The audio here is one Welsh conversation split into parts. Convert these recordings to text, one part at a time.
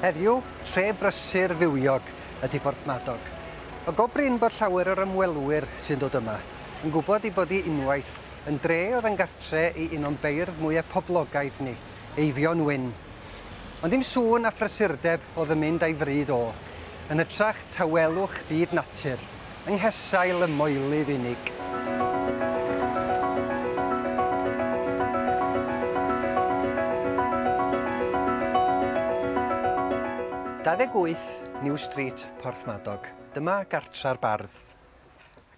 Heddiw, tre brysur fywiog ydy Porthmadog. O go brin bod llawer o'r ymwelwyr sy'n dod yma yn gwybod ei bod hi unwaith yn dre oedd yn gartre i un o'n beirdd mwyaf poblogaidd ni, Eifion Wyn. Ond ddim sŵn a phrysurdeb oedd yn mynd a'i fryd o, yn hytrach tawelwch byd natur, yng nghesail y moelydd unig. Dauddeg wyth, New Street, Porthmadog. Dyma gartra'r bardd.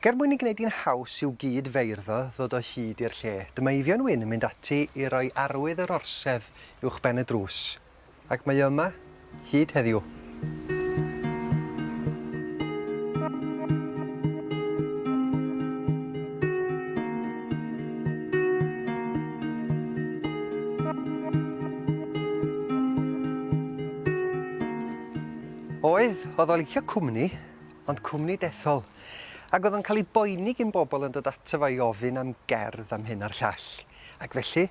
Ac er mwyn i gwneud hi'n haws i'w gyd feirddod ddod o hyd i'r lle, dyma Eifion Wyn yn mynd ati i roi arwydd yr orsedd uwchben y drws. Ac mae o yma, hyd heddiw. Oedd, oedd o'n licio cwmni, ond cwmni dethol. Ac oedd o'n cael ei boeni gyn bobl yn dod ato fo i ofyn am gerdd am hyn a'r llall. Ac felly,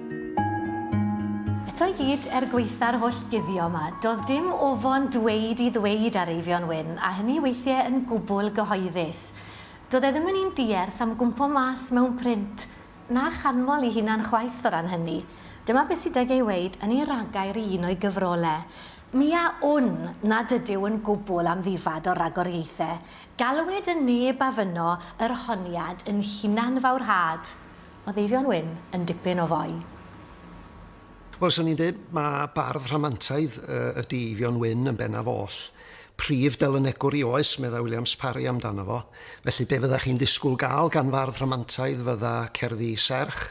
Eto i gyd, er gwaetha'r holl guddio yma, do'dd dim ofon dweud i ddweud ar Eifion Wyn, a hynny weithie yn gwbwl gyhoeddus. Do'dd e ddim yn un dierth am gwmpo mas mewn print, na chanmol 'i hunan chwaith o ran hynny. Dyma be' sy 'dyg ei weud yn ei ragair i un o'i gyfrole, Mi a wn nad ydyw yn gwbwl amddifad o ragoriaethe, galwed yn neb a fynno yr honiad yn hunanfawrhad. Oedd Eifion Wyn yn dipyn o foi? Wel, 'swn i'n deud ma' bardd rhamantaidd ydi Eifion Wyn yn bennaf oll. Prif delynegwr i oes, medda Williams Parry amdano fo. Felly, be' fydda chi'n disgwl ga'l gan fardd rhamantaidd fydda cerddi serch,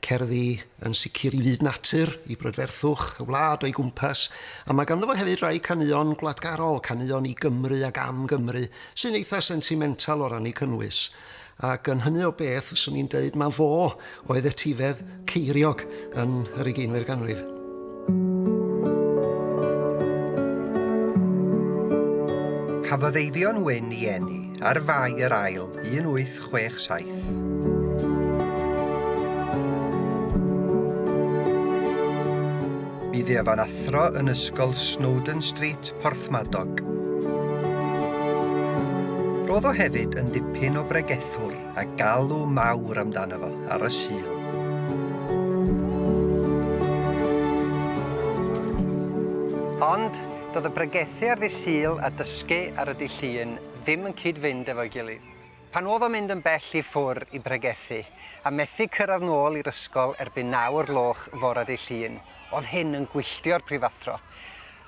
cerddi yn sicr i fyd natur, i brydferthwch y wlad o'i gwmpas, a ma' ganddo fo hefyd rai caneuon gwladgarol, caneuon i Gymru ac am Gymru, sy'n eitha' sentimental o ran 'u cynnwys. Ac yn hynny o beth, fyswn i'n deud mae fo oedd etifedd ceiriog yn yr ugeinfed ganrif. Cafodd Eifion Wyn i eni ar Fai yr Ail 1867. Bydd ef yn athro yn Ysgol Snowdon Street, Porthmadog. Roedd o hefyd yn dipyn o bregethwr a galw mawr amdano fo ar y Sul. Ond doedd y bregethu ar ddydd Sul a dysgu ar y dydd Llun ddim yn cyd-fynd efo'i gilydd. Pan oedd o'n mynd yn bell i ffwr i bregethu, a methu cyrraedd nôl i'r ysgol erbyn naw o'r gloch fore Ddydd Llun, oedd hyn yn gwylltio'r prifathro.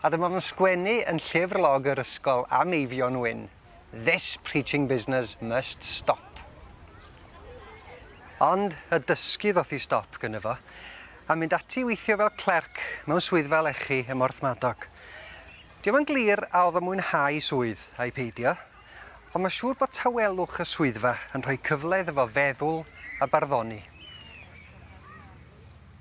A dyma fo'n sgwennu yn llyfr log yr ysgol am Eifion Wyn, This preaching business must stop. Ond y dysgu ddoth i stop gynno fo, a mynd ati i weithio fel clerc mewn swyddfa lechi ym Mhorthmadog. Dio'm yn glir a oedd o'n mwynhau swydd, ai peidio, Ond mae'n siŵr bod tawelwch y swyddfa yn rhoi cyfle iddo fo feddwl a barddoni.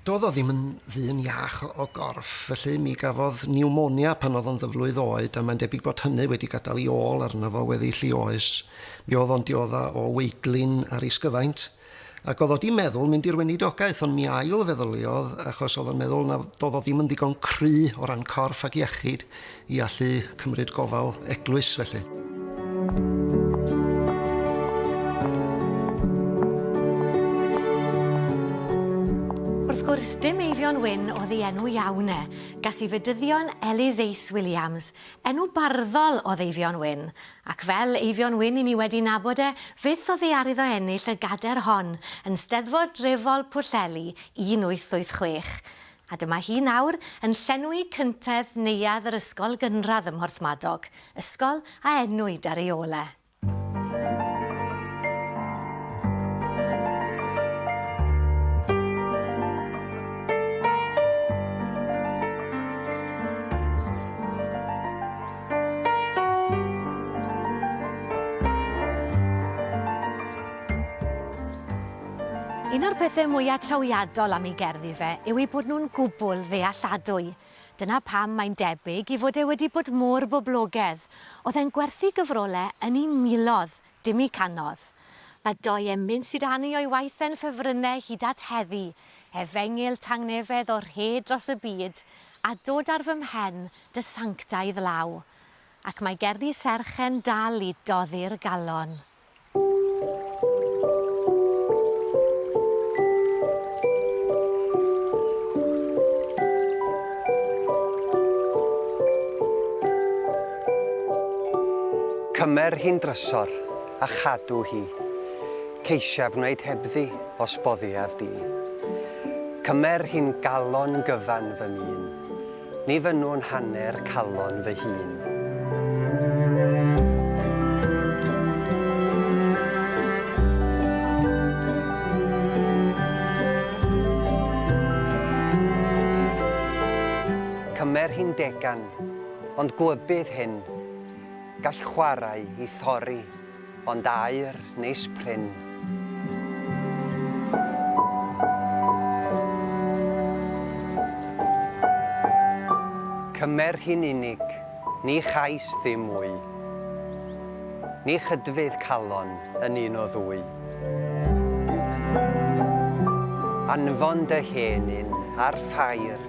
Doedd o ddim yn ddyn iach o gorff, felly mi gafodd niwmonia pan oedd o'n ddyflwydd oed a mae'n debyg bod hynny wedi gadael ei ôl arno fo weddill ei oes. Mi oedd o'n diodda' o weidlin a rhisgyfaint. Ac oedd o 'di meddwl mynd i'r weinidogaeth, ond mi ail-feddyliodd, achos oedd o'n meddwl na doedd o ddim yn ddigon cry o ran corff ac iechyd i allu cymryd gofal eglwys felly. Dim Eifion Wyn oedd ei enw iawn e. Gas i fedyddion Ellis Ace Williams, enw barddol oedd Eifion Wyn, Ac fel Eifion Wyn i ni wedi nabod e, fyth oddi ar iddo ennill y gader hon yn Steddfod drefol Pwllheli 1886. A dyma hi nawr yn llenwi cyntedd neuadd yr ysgol gynradd ym Mhorthmadog, ysgol a enwyd ar ei ôl e. Un o'r pethau mwyaf trawiadol am ei gerddi fe yw eu bod nhw'n gwbl ddealladwy. Dyna pam mae'n debyg i fod e wedi bod mor boblogedd. Oedd e'n gwerthu gyfrolau yn ei miloedd Dim i canodd. Mae dou emyn sydd â ni o'i waith e'n ffefrynnau hyd at heddi, efengyl tangnefedd o rhed dros y byd, a dod ar fy mhen, dy sanctaidd law. Ac mae gerddi serch'e'n dal i doddi'r galon. Cymer hi'n drysor, a chadw hi. Ceisiaf wneud hebddi, os boddiaf di. Cymer hi'n galon gyfan fy mîn. Ni fynnwn hanner calon fy hun. Cymer hi'n degan. Ond gwybydd hyn, gall chwarae i thorri ond aur neis prin. Cymer hi'n unig, ni chais ddim mwy. Ni chydfydd calon yn un o ddwy. Anfon dy hen un ar ffair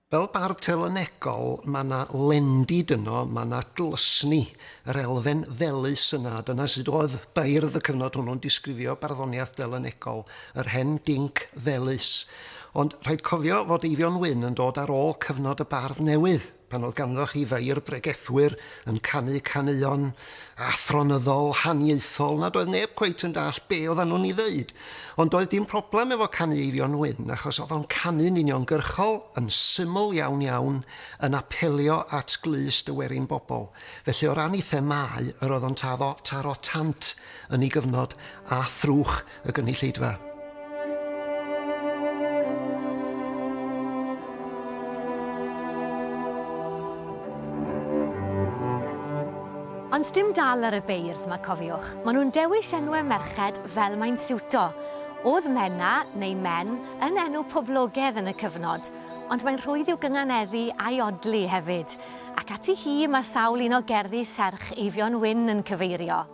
Fel bardd telynegol, mae 'na lendid yno, mae 'na glysni, yr elfen ddelys yna, a dyna sut oedd beirdd y cyfnod hwnnw'n disgrifio barddoniaeth delynegol, yr hen dinc ddelys. Ond rhaid cofio fod Eifion Wyn yn dod ar ôl cyfnod y bardd newydd, pan oedd ganddoch chi feirdd bregethwyr, yn canu caneuon athronyddol, haniaethol, nad oedd neb cweit yn dall be oeddan nhw'n ei ddeud. Ond doedd dim problem efo canu Eifion Wyn, achos oedd o'n canu'n uniongyrchol, yn syml iawn iawn, yn apelio at glust y werin bobl. Felly o ran ei themâu, yr oedd o'n taro tant yn ei gyfnod, a thrwch, y gynulleidfa. Ond dim dal ar y beirdd mae cofiwch, maen nhw'n dewis enwau merched fel mae'n siwto. Oedd Menna, neu Men, yn enw poblogedd yn y cyfnod, ond mae'n rhwydd i'w gynganeddu a'i odli hefyd, ac ati hi mae sawl un o gerddi serch Eifion Wyn yn cyfeirio.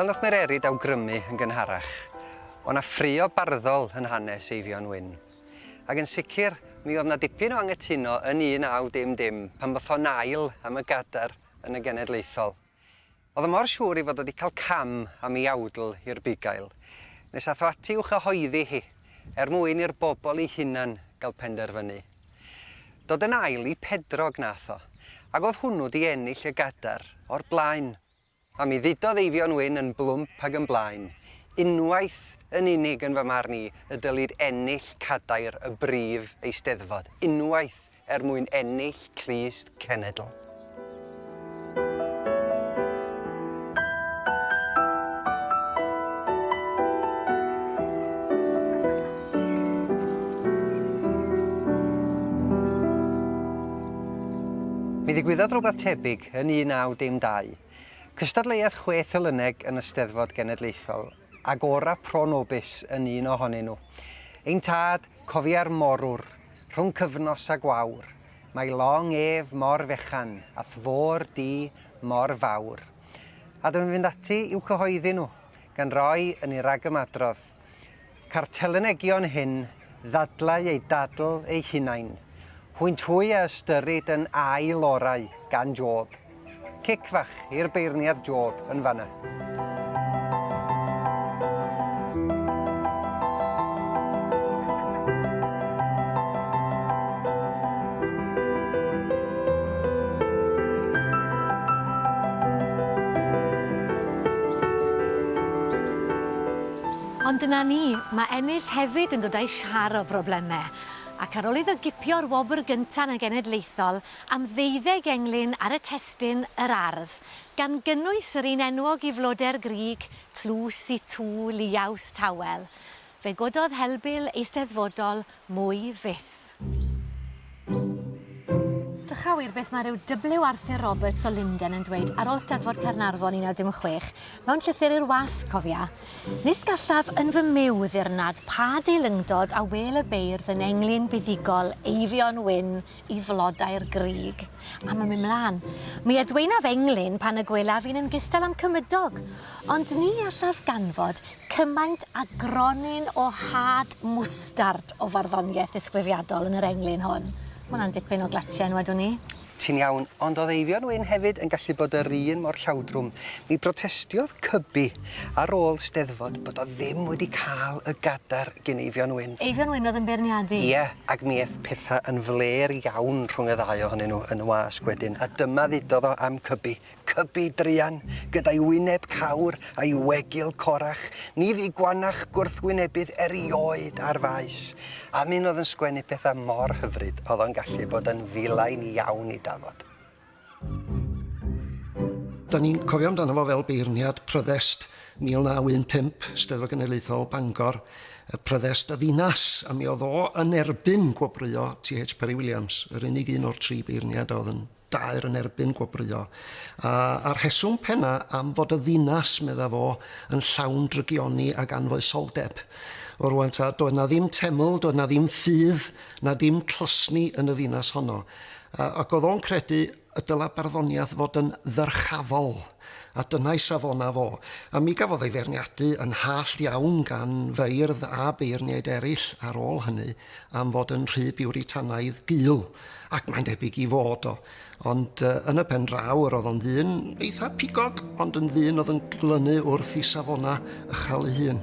Fel na chmererid awgrymu yn gynharach, o na ffrio barddol yn hanes Eifion Wyn. Ac yn sicr, mi oedd na dipyn o angytuno yn 1900 pan fotho'n ail am y gadar yn y genedlaethol. O'dd o mor siŵr 'i fod o 'di cael cam am 'i awdl i'r bugail, nes ath o ati i'w chyhoeddi hi, er mwyn i'r bobl eu hunan gael penderfynu. Dod yn ail i Pedrog nath o, ag o'dd hwnnw 'di ennill y gadar o'r blaen. A mi ddudodd Eifion Wyn yn blwmp ag yn blaen, Unwaith yn unig yn fy marn i y dylid ennill cadair y brif eisteddfod, unwaith er mwyn ennill clust cenedl. Mi ddigwyddodd rhywbeth tebyg yn 1912. Cystadleuodd chwe Thulyneg yn y Steddfod Genedlaethol, Agora pro nobis yn un ohonyn nhw. Ein Tad, cofia'r morwr, rhwng cyfnos a gwawr, mae long ef mor fechan, a thfôr di mor fawr. A dw i'n fynd ati i'w cyhoeddi nhw, gan roi yn ei ragymadrodd, Ca'r telynegion hyn ddadlau eu dadl eu hunain, hwynt hwy a ystyrid yn ail orau gan Job. Cic fach i'r beirniad Job yn fanna. Ond dyna ni, mae ennill hefyd yn dod a'i siâr o broblemau. Ac ar ôl iddo gipio'r wobr gyntaf yn y genedlaethol, am ddeuddeg englyn ar y testun Yr Ardd, gan gynnwys yr un enwog i floder grug tlws i Tŵ Liaws Tawel. Fe gododd helbul eisteddfodol mwy fyth. Drychawyd beth mae rhyw W. Arthur Roberts o Linden yn dweud ar ôl Steddfod Caernarfon 1916, mewn llythyr i'r wasg, cofia, Nis gallaf yn fy myw ddirnad pa deilyngdod a wêl y beirdd yn englyn buddugol Eifion Wyn i flodau'r grug. A mae'n mynd mlaen. Mi adweinaf englyn pan y gwelaf fi'n yn gystal am cymydog, ond ni allaf ganfod cymaint a gronyn o had mwstard o farddoniaeth ddisgrifiadol yn yr englyn hwn. Mae hwnna'n dipyn o glatiau yn wedwn ni. Ti'n iawn, ond oedd Eifion Wyn hefyd yn gallu bod yr un mor llawdrwm. Mi brotestiodd Cybi Ar ôl 'Steddfod bod o ddim wedi cael y gadar gin Eifion Wyn. Eifion Wyn oedd yn beirniadu? Ie, ac mi eth pethau yn flêr iawn rhwng y ddau ohonyn nhw yn y wasg wedyn, a dyma ddudodd o am Cybi, Cybi druan, gyda'i wyneb cawr a'i wegil corach, ni fu gwannach gwrthwynebydd erioed ar faes. Am un oedd yn sgwennu pethau mor hyfryd, oedd o'n gallu bod yn ddilyn iawn i dafod. Da ni'n cofio amdano fo fel beirniad Pryddest 1915, Steddfod Genedlaethol Bangor, y Pryddest y ddinas, a mi oedd o yn erbyn gwobrwyo T.H. Parry Williams, yr unig un o'r tri beirniad a oedd yn daer yn erbyn gwobrwyo. A, a rheswm penna am fod y ddinas, medda fo, yn llawn drygioni ag anfoesoldeb. O rwan ta, doedd na ddim teml, doedd na ddim ffydd, na dim closni yn y ddinas honno. Ac oedd o'n credu y dylai barddoniaeth fod yn ddyrchafol, a dyna ei safonau fo. A mi gafodd ei feirniadu yn hallt iawn gan feirdd a beirniaid eraill ar ôl hynny am fod yn rhy biwritanaidd gul, ac mae'n debyg i fod o. Ond yn y pen draw, yr oedd o'n ddyn eitha pigog, ond yn ddyn oedd yn glynu wrth ei safonau ychal ei hun.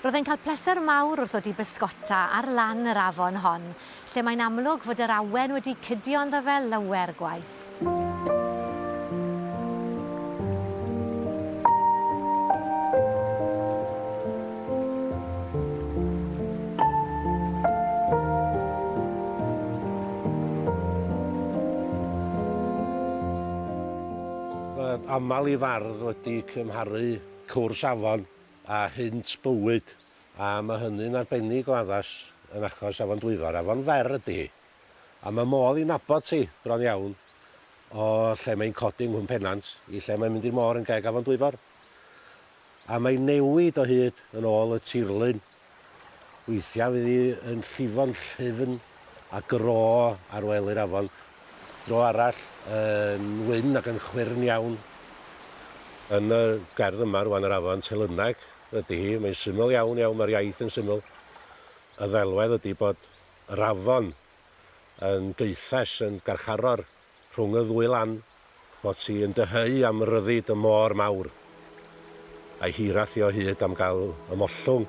Roedd e'n cael pleser mawr wrth ddod i bysgota ar lan yr afon hon, lle mae'n amlwg fod yr awen wedi cydio ynddo fe lawer gwaith. Mae aml i fardd wedi cymharu cwrs afon a hynt bywyd, a mae hynny'n arbennig o addas yn achos Afon Dwyfor. Afon fer ydy hi, a mae modd i nabod hi bron iawn o lle mae'n codi yng Nghwm Pennant i lle mae'n mynd i'r môr yn geg Afon Dwyfor. A mae'n newid o hyd yn ôl y tirlun. Weithiau fydd hi yn llifo'n llyfn a gro ar wely'r afon, dro arall yn wyn ac yn chwyrn iawn. Yn y gerdd yma rwan, yr afon, Telyneg ydi hi, mae'n syml iawn, iawn, mae'r iaith yn syml. Y ddelwedd ydi bod yr afon yn gaethes, yn garcharor. Rhwng y ddwy lan, fot ti yn dyheu am ryddid y môr mawr, a'i hiraeth hi o hyd am gael ymollwng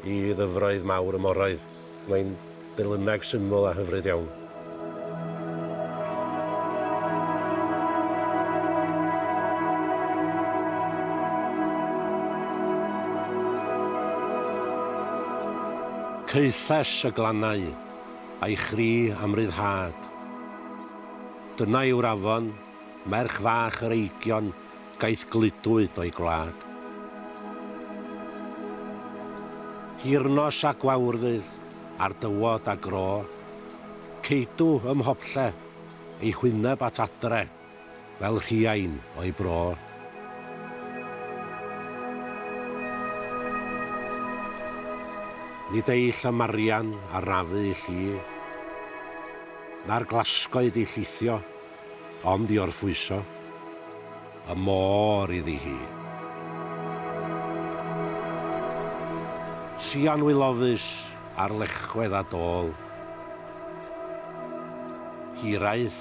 i ddyfroedd mawr y moroedd. Mae'n delyneg syml a hyfryd iawn. Caethes y glannau. a'i chri am ryddhad. Dyna yw'r afon, merch fach yr eigion gaeth gludwyd o'i gwlad. Hir-nos a gwawrddydd ar dywod a gro, ceidw ym mhoblle ei hwyneb at adre. fel rhiain o'i bro. Nid ei llamarian a rafu ill i, na'r glasgoed i llithio, ond i orffwyso y môr iddi hi. Sian wilofus ar lechwedd a dôl, hiraeth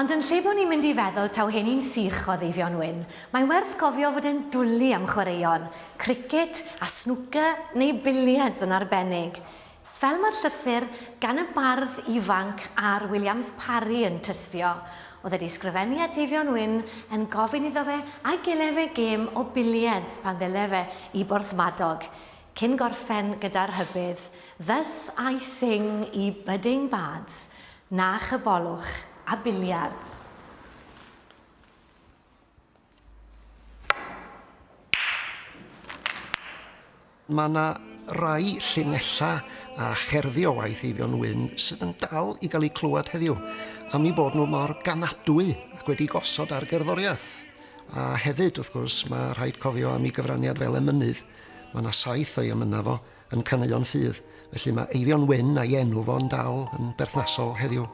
Ond yn lle bod ni'n mynd i feddwl taw hyn un sych oedd Eifion Wyn, mae'n werth cofio fod e'n dwli am chwaraeon, cricet a snwcer neu biliards yn arbennig, fel mae'r llythyr gan y bardd ifanc Are Williams Parry yn tystio, oedd wedi sgrifennu at Eifion Wyn yn gofyn iddo fe a gele fe gêm o biliards pan ddyle fe i Borthmadog, cyn gorffen gyda rhybudd Thus I sing ye budding bards, Na chybolwch a biliards. Mae 'na rai llinellau a cherddi o waith Eifion Wyn sydd yn dal i gael eu clywed heddiw, am eu bod nhw mor ganadwy ac wedi gosod ar gerddoriaeth. A hefyd, wrth gwrs, mae rhaid cofio am ei gyfraniad fel emynydd. Mae 'na saith o'i emynau fo. yn caneuon ffydd, felly mae Eifion Wyn a'i enw fo'n dal yn berthnasol heddiw.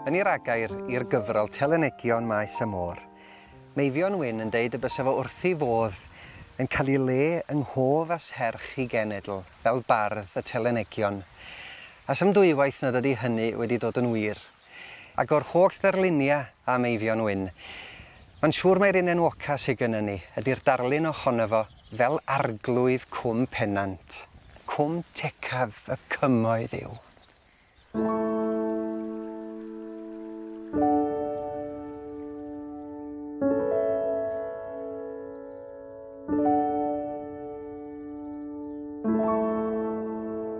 Yn ei ragair i'r gyfrol Telynegion Maes y Môr, mae Eifion Wyn yn deud y bysa fo wrthi fodd yn cael ei le yng nghof a serch ei genedl fel bardd y Telynegion. A sdim dwywaith nad ydy hynny wedi dod yn wir. Ac o'r holl ddarluniau am Eifion Wyn, mae'n siŵr mai'r un enwoca sy gynnon ni ydy'r darlun ohono fo fel Arglwydd Cwm Pennant. Cwm tecaf y Cymoedd yw.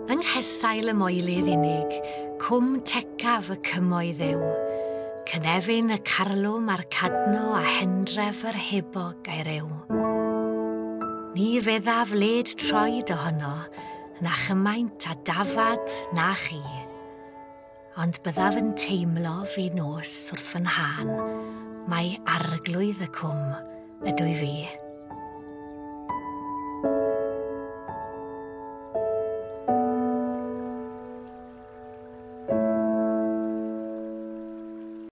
Yng nghesail y moelydd unig, cwm tecaf y cymoedd yw. Cynefin y carlwm a'r cadno a hendref yr hebog a'i rew. Ni feddaf led troed ohono, na chymaint a dafad na chi. Ond byddaf yn teimlo fi nos wrth fy nhân, mae arglwydd y cwm ydw i fi.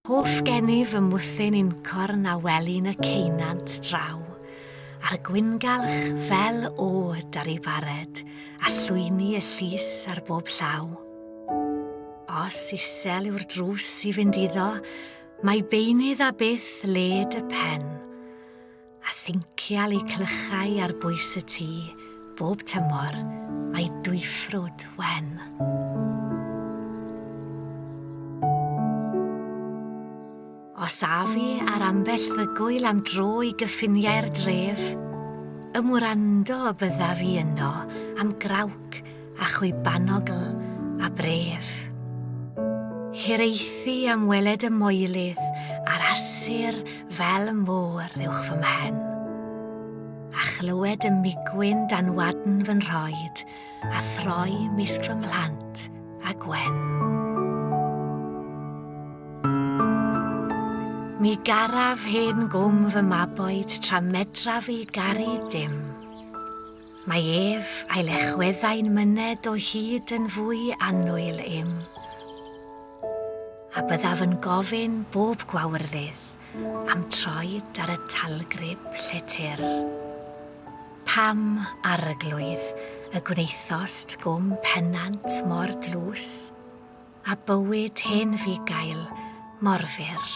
Hoff gennyf fy mwthyn i'n corn a welin y ceunant draw, a'r gwyngalch fel od ar ei bared, a llwyni y llys ar bob llaw. Os isel yw'r drws i fynd iddo, mae beunydd a byth led y pen. A thincial i clychau ar bwys y tŷ, bob tymor, mae dwyffrwd wen. Os a fi ar ambell ddygwyl am dro i gyffiniau'r dref, ym wrando y bydda fi yno am grawc a chwibanogl a bref. Hiraethu am weled y moelydd a'r asur fel môr uwch fy mhen, a chlywed y migwyn dan wadn fy nhroed a throi mysg fy mhlant a Gwen. Mi garaf hen gwm fy maboed tra medraf i garu dim. Mae ef a'i lechweddau'n myned o hyd yn fwy annwyl im. A byddaf yn gofyn bob gwawrddydd Am troed ar y talgrib lletr. Pam, Arglwydd, y gwnaethost gwm pennant mor dlws, a bywyd hen fugail mor fyr?